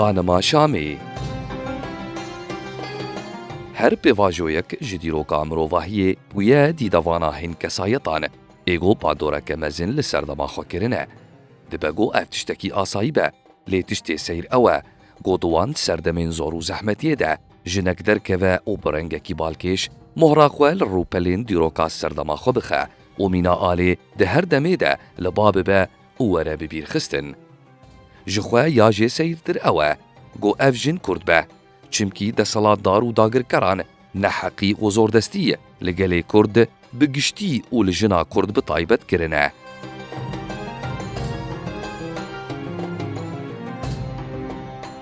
Xanima Şamê Her pêvajoyek ji dîroka mirovahiyê bûye dîda vana hîn kesayetan e. Êgo pandoreke mezin li ser dema xwe kirine. Dibe go ev tiştekî asayî be, lê tiştê seyr ew e, go di wan serdemên zor û zehmetiyê de Jinek derkeve û bi rengekî balkêş mohra xwe li rûpelên dîroka serdema xwe bixe û mîna alê di her demê de li ba bibe û were bibîrxistin. Ji xwe ya jê seyirtir ew e ku ev jin kurd be. Çimkî deselatdar û dagirkeran neheqî û zordestî li gelê Kurd bi giştî û li jina Kurd bi taybet kirine.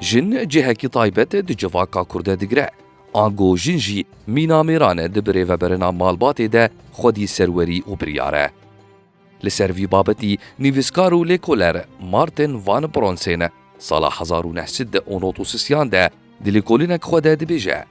Jin cihekî taybet di civaka Kurd de digire. Ango jin jî mîna mêran e di birêveberina malbatê de xwedî serwerî û biryar e. Li ser vî babetî nivîskar û lêkoler Martin Van Bronsên sala hezar û neh sed de û nod û sisiyan de di lêkolînek xwe de dibêje,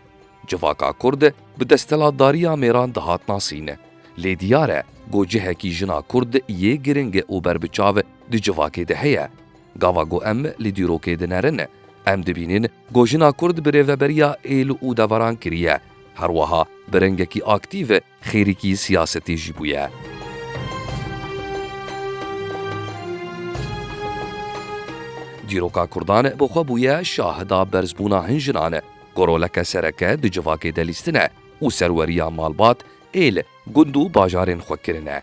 Civaka Kurd bi desthilatdariya mêran dihat nasîn. Lê diyar e ku cihekî jina Kurd yê giring û berbiçav di civakê de heye. Gava ku em li dîrokê de nerin, em dibînin ku jina Kurd birêveberiya êl û deveran kiriye, herweha bi rengekî aktîv Xêrikî siyasetê jî bûye. Dîroka Kurdan bi xwe bûye şahida berzbûna hin jinan ku roleke sereke di civakê de lîstin e û serweriya malbat, êl, gund û bajarên xwe kirin e.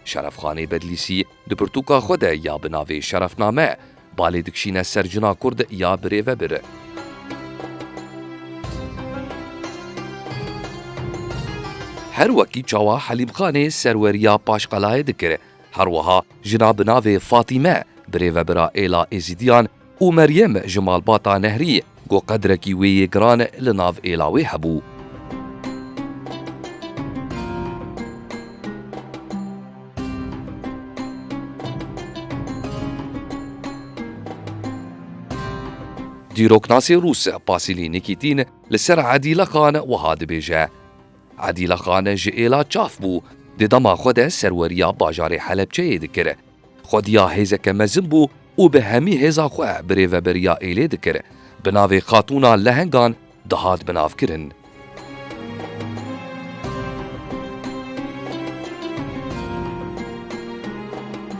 Şerefxanê Bedlîsî di pirtûka xwe de ya bi navê Şerefname balê dikişîne ser jina kurd ya birêvebir. Her wekî çawa Helîmxanê serweriya paşqelayê dikir, her wiha jina bi navê Fatîme birêvebira êla Êzîdiyan, Û Meryem ji malbata Nehrî ku qedrekî wê yê giran li nav êla wê hebû. Dîroknasê rûs Pasîlî Nîkîtîn li ser Edîla Xan wiha dibêje, Edîla Xan ji êla çaf bû, di dema xwe de serweriya bajarê Helepçeyê dikir, Xwediya hêzeke mezin bû û bi hemî hêza xwe birêveberiya êlê dikir, bi navê Xatûna Lehengan dihat binavkirin.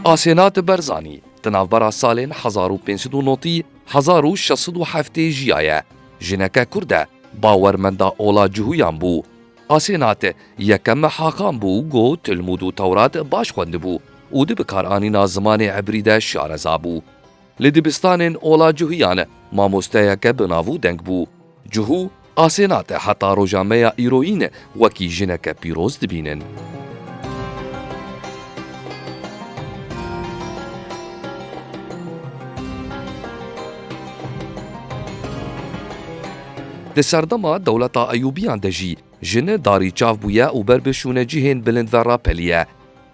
Asenat Berzanî di navbera salên hezar û pênc sed û notî hezar û şeş sed û heftê jiyaye. Jineke kurd e, bawermenda ola cihûyan bû. Asenat, yekem Hakan bû ku Tilmûd û Tewrat baş xwendibû û di bikaranîna zimanê Îbrî de şareza bû. Li dibistanên ola cuhîyan mamosteyeke bi nav û deng bû. Cuhû, Asenat heta roja me ya îroyîn wekî jineke pîroz dibînin. Di serdema dewleta Eyûbiyan de jî jine darî çav bûye û ber bişûne cihên bilind ve rapeliye.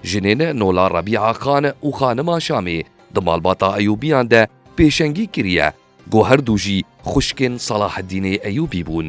Jinên Nola Rebîa Xan û Xanima Şamê di malbata Eyûbiyan de pêşengî kiriye ku her du jî xwişkên Salaheddînê Eyûbî bûn.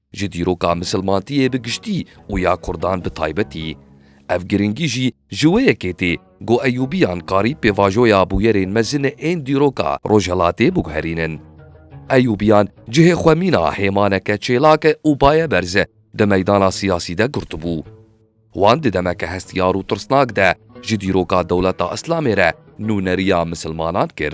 Ji dîroka misilmantiyê bi giştî û ya kurdan bi taybetî, ev girîngî jî ji wê yekê tê ku Eyûbiyan karî pêvajoya bûyerên mezin ên dîroka rojhilatê biguherînin. Eyûbiyan cihê xwe mîna hêmaneke çêlak û baye berz di meydana siyasî de girtibû. Wan di demeke hestiyar û tirsnak de ji dîroka dewleta Îslamê re nûneriya misilmanan kir.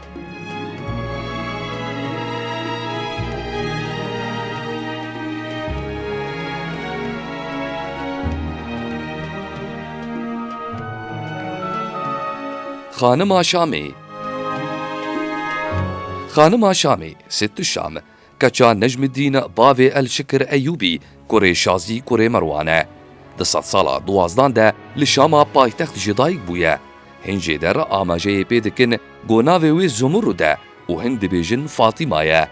Xanima Şamê Xanima Şamê, Sittuşam, Keça Necmidîn bavê El Şikir Eyûbî kurê Şazî kurê Merwan e. Di sedsala duwazdan de li Şama paytext jî dayik bûye. Hin jê der amajeyê pê dikin ku navê wê Zumurud e û hin dibêjin Fatîma ye.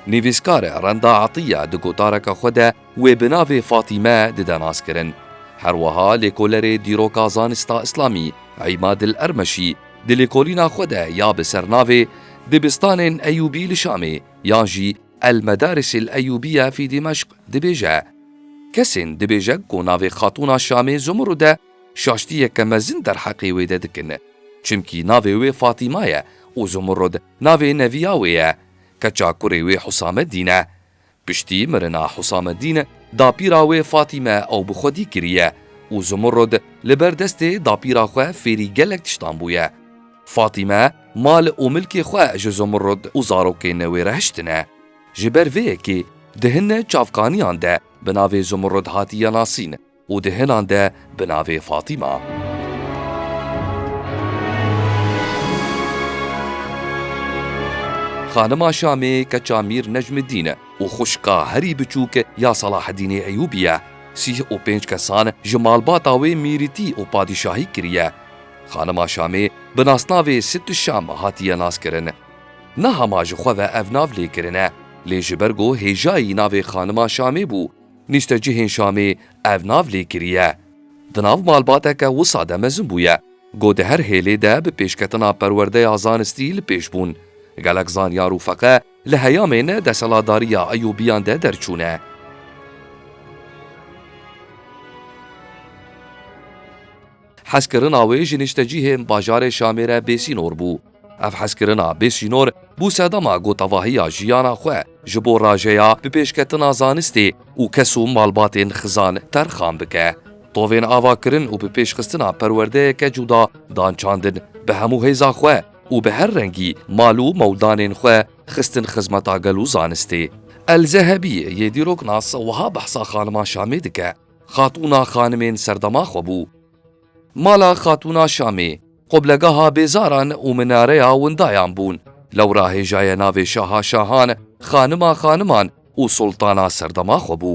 Nivîskar Renda Etiya di gotareke xwe de, Wê bi navê Fatîme dide naskirin. Her wiha lêkolerê Dîroka Zanista Îslamî Îmadil Ermeşî di lêkolîna xwe de ya bi ser navê Dibistanên Eyûbî li Şamê yan jî El Medaris El Eyûbiye fî Dîmeşq dibêje, Kesên dibêje ku navê Xatûna Şamê Zumurûd e şaştiyeke mezin derheqê wê de dikin. Çimkî navê wê Fatîma ye û Zumurûd navê neviya wê ye, keça kurê wê Husameddîn e. Piştî mirina Husamedîn, dapîra wê Fatîme ew bi xwedî kiriye û Zumurrud li ber destê dapîra xwe fêrî gelek tiştan bûye. Fatîme mal û milkê xwe ji Zumurrud û zarokên wê re hiştine. Ji ber vê yekê di hin çavkaniyan de bi navê Zumurrud hatiye nasîn. û di hinan de bi navê Fatîma. Xanima Şamê keça Mîr Necmîddîn û xwişka herî biçûk ya Selahedînê Eyûbî ye. Sîh û pênc kesan ji malbata wê mîrîtî û padîşahî kiriye. Xanima Şamê bi nasnavê Sittü Şam hatiye naskirin. Niha ma ji xwe ve ev nav lê kirine, lê ji ber ku hêjayî navê Xanima Şamê bû, Nîştecihên Şamê ev nav lê kiriye. Di nav malbateke wisa de mezin bûye. Got di her hêlê de bi pêşketina perwerdeya zanistî li pêş bûn. Gelek zanyar û feqe li heyamên deselatdariya Eyûbiyan de derçûne. Hezkirina wê ji niştecîhên bajarê Şamê re bêsînor bû. Ev hezkirina bêsînor bû sedema gotevahiya jiyana xwe ji bo rajeya bi pêşketina zanistê û kes û malbatên xizan terxan bike. Tovên avakirin û bi pêşxistina perwerdeyeke cuda dan çandin bi hemû hêza xwe û bi her rengî mal û mewdanên xwe xistin xizmeta gel û zanistê. El Zehebî yê dîrok nas wiha behsa xanima Şamê dike. Xatûna Xanimên serdema xwe bû. Mala Xatûna Şamê, qoblegeha bêzaran û minareya windayan bûn. Lewra hêjaye navê Şaha Şahan, Xanima Xaniman û Sultana serdema xwe bû.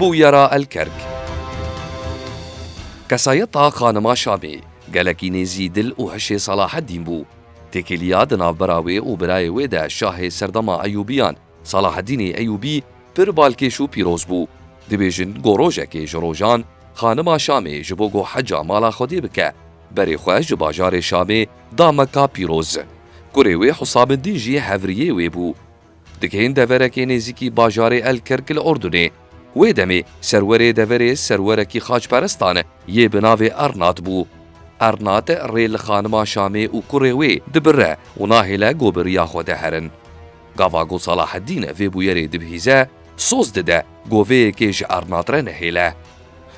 Bûyera Elkerk Kesayeta Xanima Şamê gelekî nêzî dil û hişê Salaheddîn bû. Têkiliya di navbera wê û birayê wê de şahê serdema Eyûbiyan, Salaheddînê Eyûbî pir balkêş û pîroz bû. Dibêjin ku rojekê ji rojan xanima Şamê ji bo ku heca mala Xwedê bike, berê xwe ji bajarê Şamê da Meka pîroz. Kurê wê Husameddîn jî hevriyê wê bû. Digihên deverekê nêzîkî bajarê El Kerk li Urdunê. Wê demê serwerê deverê serwerekî xaçperestan yê bi navê Ernat bû. Ernat rê li xanima Şamê û kurê wê dibire û nahêle ku bi riya Xwedê herin. Gava ku Salaheddîn vê bûyerê dibihîze, soz dide goveyekê ji Arnatre nehêle.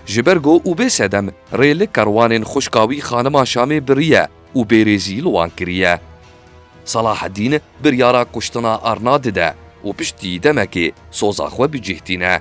Ji ber ku û bê sedem rê li kerwanên xwişka wî Xanima Şamê biriye û bêrêzî li wan kiriye. Salaheddîn biryara kuştina Arna dide û piştî demekê soza xwe bicîhtîne.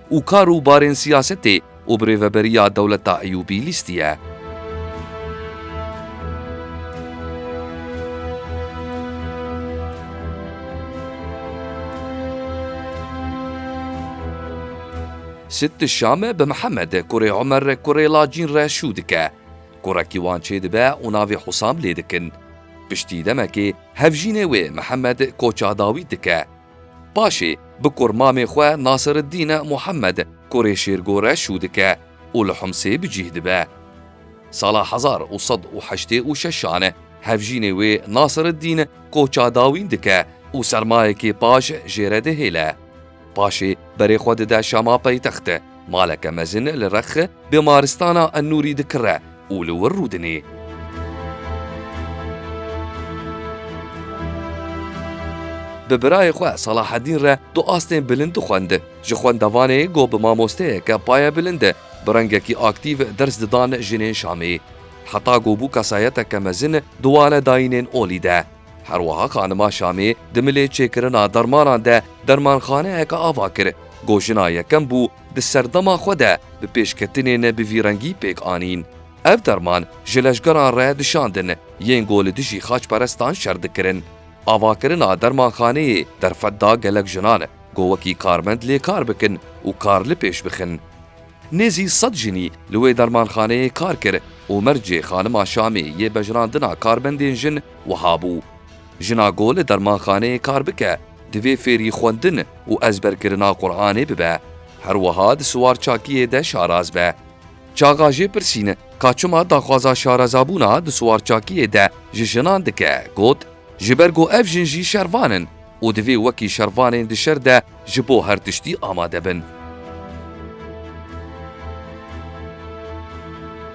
û kar û barên siyasetê û bi rêveberiya dewleta Eyûbî lîstiye. Sitt Şam bi Mihemed kurê Omer kurê Lacîn re şû dike. Kurekî wan çêdibe û navê Husam lê dikin. Piştî demekê hevjînê wê Mihemed koça dawît dike. Paşê bi kur mamê xwe Nasiriddîne Muhemed kurê Şêrgo re şû dike û li Humsê bi cîh dibe. Sala hezar û sed û heştê û şeşan hevjînê wê Nasiriddîn koça dawîn dike û sermayekê paş jê re dihêle. Paşê berê xwe dide Şama paytext. Maleke mezin li Rexx bêmaristana Enûrî dikire. û li wir rûdinê. Bi birayê xwe Salaheddîn re du astên bilind dixwend. Ji xwendevanê got bi mamosteyeke paye bilind bi rengekî aktîv ders didan jinên Şamê. Heta got bû kesayeteke mezin di wane dayînên olî de. Her wiha xanima Şamê di milê çêkirina dermanan de dermanxaneyeke ava kir. Got jina yekem bû di serdema xwe de bi pêşketinê ne bi vî rengî pêk anîn. Ev derman ji leşgeran re dişandin yên ku li dijî xaçperestan şer dikirin. Avakirina dermanxaneyê derfet da gelek jinan ku wekî karmend lê kar bikin û kar li pêş bixin. Nêzî sed jinî li wê dermanxaneyê kar kir û mercê xanima Şamê yê bejirandina karmendên jin wiha bû, Jina ku li dermanxaneyê kar bike, Divê fêrî xwendin û ezberkirina Quranê bibe. Her wiha di siwarçakiyê de şaraz be. Çaxa jê pirsîn ka çima daxwaza şarezabûna di siwarçakiyê de ji jinan dike, got, Ji ber ku ev jin jî şervan in û divê wekî şervanên di şer de ji bo her tiştî amade bin.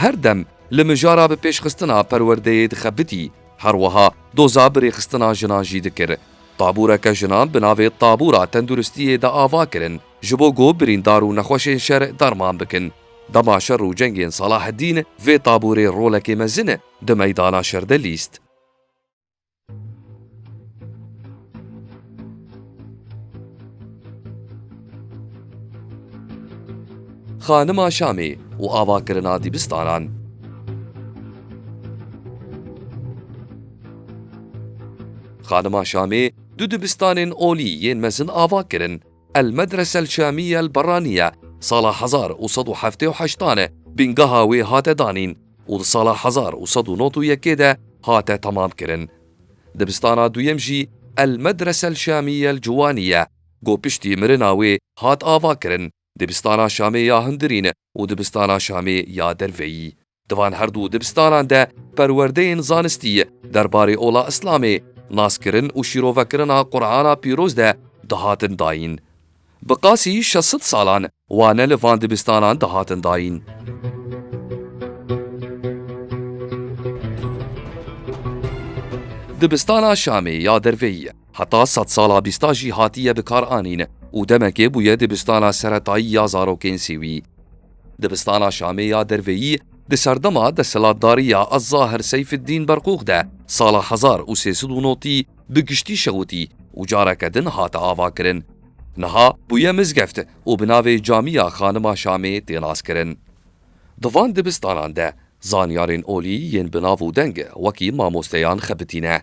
Her dem li mijara bi pêşxistina perwerdeyê dixebitî, her wiha doza bi rêxistina jinan jî dikir. Taboreke jinan bi navê Tabora Tenduristiyê de ava kirin. ji bo ku birîndar û nexweşên şer derman bikin. Dema şer û cengên Salaheddîn vê taborê rolekê mezin di meydana şer de lîst. Xanima Şamê û avakirina dîbistanan. Xanima Şamê du dibistanên olî yên mezin ava kirin. El Medrese El Şamiye El Berraniye sala hezar û sed û heftê û heşt tane bîngeha wê hate danîn û di sala hezar û sed û nod û yekê de hate temamkirin. Dibistana duyem jî El Medrese El Şamiye El Cuwaniye ku piştî mirina wê hat avakirin, Dibistana Şamê ya Hundirîn û Dibistana Şamê ya Derveyî. Di van her du dibistanan de perwerdeyên zanistî derbarê ola Îslamê, naskirin û şîrovekirina Qur'ana pîroz de dihatin dayîn. Bi qasî şeş sed salan wane li van dibistanan dihatin dayîn. Dibistana Şamê ya derveyî heta sed sala bîsta jî hatiye bikaranîn û demekê bûye dibistana seretayî ya zarokên Sîwî. Dibistana Şamê ya derveyî di serdema desthilatdariya Zahir Seyfiddîn Berqûx de sala hezar û sê sed û notî bi giştî şewitî û careke din hate avakirin. Niha bûye mizgeft û bi navê Camiya Xanima Şamê tê naskirin. Di van dibistanan de zanyarên olî yên bi nav û deng wekî mamosteyan xebitîne.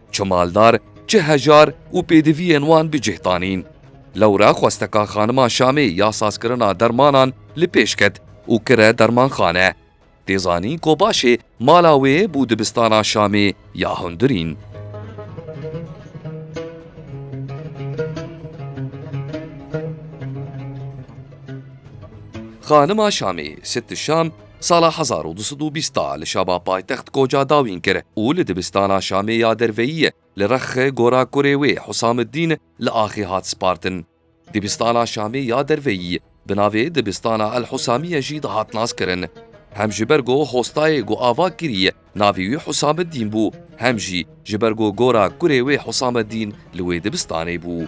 Çi maldar, çi hejar û pêdiviyên wan bi cih danîn. Lewre xwesteka Xanima Şamê ya sazkirina dermanan li pêş ket û kire dermanxane. Tê zanîn ku başê mala wê bû dibistana Şamê ya hundirîn. Xanima Şamê, Sitt Şam, Sala hezar û du sed û bîst da li Şaba paytext koca dawîn kir û li dibistana Şamê ya derveyiyê li Rexxê gora kurê wê Husamiddîn li axê hat spartin. Dibistana Şamê ya derveyî bi navê Dibistana El Husamiye jî dihat naskirin. Hem ji ber ku hostayê ku ava kiriye navê wî Husamiddîn bû hem jî ji ber ku gora kurê wê Husamiddîn li wê dibistanê bû.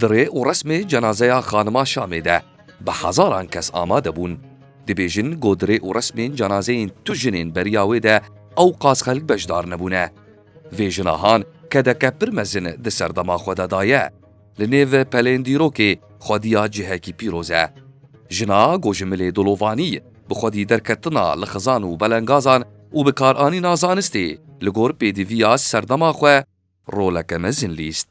Di rê û resmê cenazeya xanima Şamê de bi hezaran kes amade bûn. Dibêjin ku di rê û resmên cenazeyên tu jinên beriya wê de ewqas xelk beşdar nebûne. Vê jina han kedeke pir mezin di serdema xwe de daye. Li nêv pelên dîrokê xwediya cihekî pîroz e. Jina ku ji milê dolovanî bi xwedî derketina li xizan û belengazan û bikaranîna zanistê li gor pêdiviya serdema xwe roleke mezin lîst.